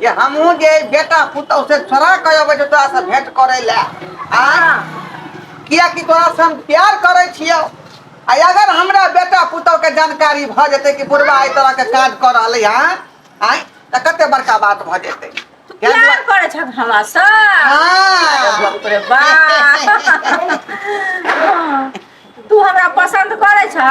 जे हमहूँ जे बेटा पुतहु से छोड़ा कऽ अबै छै तोरासँ भेँट करै लए आ किएकि तोरासँ हम प्यार करै छियौ आ अगर हमरा बेटा पुतहुके जानकारी भऽ जेतै कि बुढ़बा एहि तरहके काज कऽ रहलै हँ आँय तऽ कतेक बड़का बात भऽ जेतै तू ताहि प्यार दुआरे- करै छह हमरासँ हँ बाप रे बाप। तू हमरा पसन्द करै छह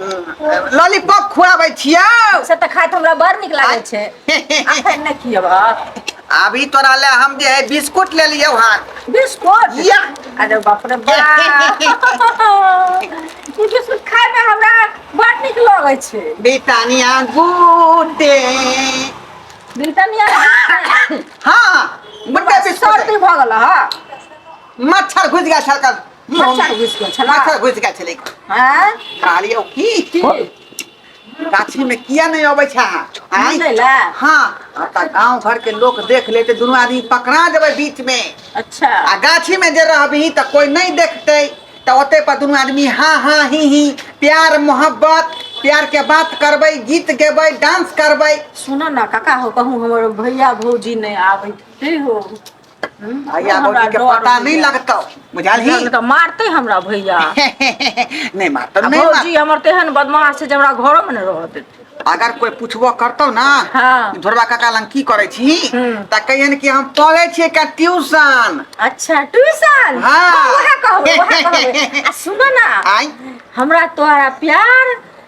लॉलीपॉप खुआबै छियौ से तऽ खाइत हमरा बड़ नीक लागै छै अखन नहि खियब अभी तोरा ले हम जे है बिस्कुट ले लियो हां बिस्कुट या अरे बाप रे बाप ई बिस्कुट खाय में हमरा बड़ नीक लागै छै बिटानिया गुड डे बिटानिया हां मुंडा से सर्दी भ गेल हां मच्छर घुस गया छलका मच्छर घुसि गेल छला मच्छर घुसि गेल छलै हैं काली ओ की की गाछी में किया नहीं अबै छा आय दै ला हाँ आता गांव घर के लोग देख लेते दोनों आदमी पकड़ा देबै बीच में अच्छा आ गाछी में जे रहबही तऽ कोई नहीं देखते तऽ ओते पर दोनों आदमी हाँ हाँ ही ही प्यार मोहब्बत प्यार के बात करबै गीत गेबै डांस करबै सुन ना काका हो कहूँ हमर भैया भौजी नहीं आबै ठीक हो भैया हमरा भौजी के डर पता नहीं होइया। लगता बुझाल ही लगले तऽ मारते हमरा भैया नहीं मारता आ नहीं मार भौजी हमर तेहन बदमाश छै जे हमरा घरो में ने रह देते अगर कोई पूछबो करतो ना हाँ। धोरबा काका लंग की करे छी हम्म। त कहियन कि हम पढ़े छिए का ट्यूशन अच्छा ट्यूशन हाँ। ओहे कहबो ओहे कहबो आ सुन ना आई हमरा तोहरा प्यार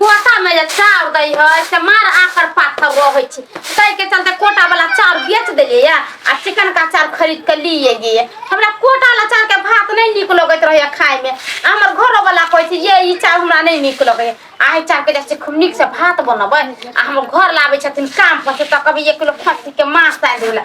कोटा में जे चाउर दै है से मार आकर पाथर रहै छै ताहि के चलते कोटा वाला चाउर बेच देलिए या आ चिकन का चाउर खरीद के लिए गए हमरा कोटा वाला चाउर के भात नहीं निक लगत रहे खाए में आ हमर घरो वाला कहै छै ये ई चाउर हमरा नहीं निक लगे आ ई चाउर के जैसे खूब निक से भात बनबै आ हमर घर लाबै छथिन काम पर से तऽ कभी एक किलो खस्सी के मांस आनि देला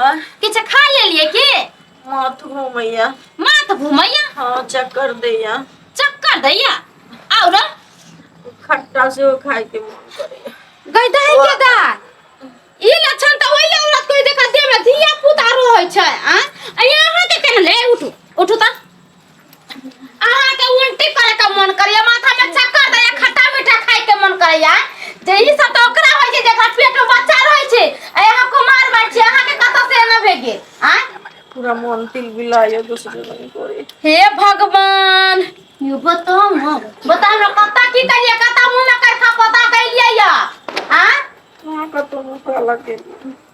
आ किछु खा लेलिए की माथ घूमैया माथ घूमैया हाँ चक्कर दैया चक्कर दैया और खट्टा से खाए के मन करैया गैदा है के दा ई लक्षण त ओइ ले औरत कोई देखा देह में धिया पुता रहै छै आ यहाँ के केन ले उठू उठू त अहाँ के उल्टी करे के मन करैया माथा में चक्कर दैया खट्टा मीठा खाए के मन करैया जे ई सब तो ओकरा होय छै जेकरा पेट में बच्चा रहै छै आ अहाँ कुमार बात छै अहाँ के कतऽ से एना भे गेल आ पूरा मन तिल बिलायो दूसरे रंग करे हे भगवान यो बताओ ना बता हमरा कतऽ की करिए कतऽ मुंह में करखा पता कैलिए या आ कहाँ का तो मुँह काला के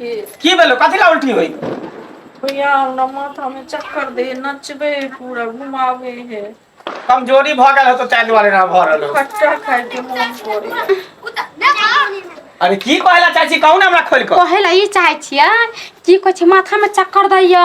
की भेलौ कथी लए उल्टी होइ भैया हमरा माथा मे चक्कर दे नचबे है पूरा घुमाबे है कमजोरी भऽ गेल हेतौ ताहि दुआरे एना भऽ रहल हौ खट्टा खाय के मोन करे अरे की कहै लए चाहै छी कहू ने हमरा खोलि कऽ कहे ला ई चाहे छियै की कहै छै माथा में चक्कर दैया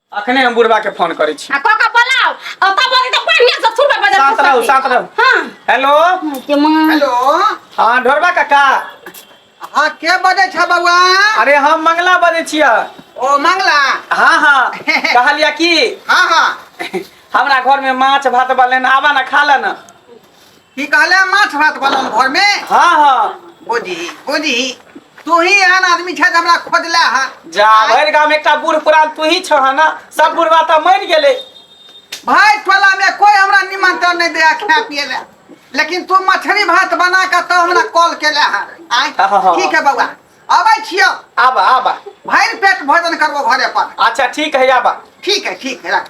अखने हम बुढ़वा के फोन करे छी आ क क बोलाओ आ तब बोली तो पानी से छुटबे बजा साथ रहू साथ रहू हां हेलो के मां हेलो हाँ ढोरबा काका हाँ के बजे छ बउआ अरे हम मंगला बजे छिया ओ मंगला हाँ हाँ कहलिया कि हाँ हाँ हमरा घर में माछ भात बा लेना आबा ना खा लेना की कहले माछ भात बनल घर में हाँ हाँ बोझी बोझी तू ही एहन आदमी छै जे हमरा खोजले है जा भरि गाम एकटा बूढ़ पुरान तू ही छह ना सब बुढ़वा तऽ मरि गेलै भाई टोला में कोई हमरा निमंत्रण नहीं दिया खाए पिए ले लेकिन तू मछली भात बना के तो हमरा कॉल केले है आय हाँ। ठीक है बउआ अबै छियो आबा आबा भरि पेट भोजन करबो घरे पर अच्छा ठीक है आबा ठीक है ठीक है रख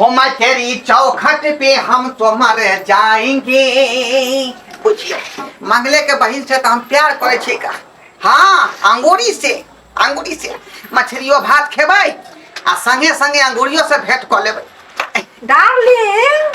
हमारे तेरी चौखट पे हम तो मर जाएंगे बुझियो मंगले के बहन से तो हम प्यार करे छी का हाँ अंगूरी से अंगूरी से मछलियो भात खेबै आ संगे संगे अंगूरियो से भेंट कऽ लेबै डार्लिंग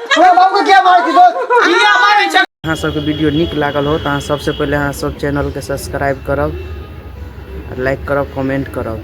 अहाँ सबके वीडियो निक लागल हो तो अहाँ सबसे पहले अहाँ सब चैनल के सब्सक्राइब करब लाइक करब कमेंट करब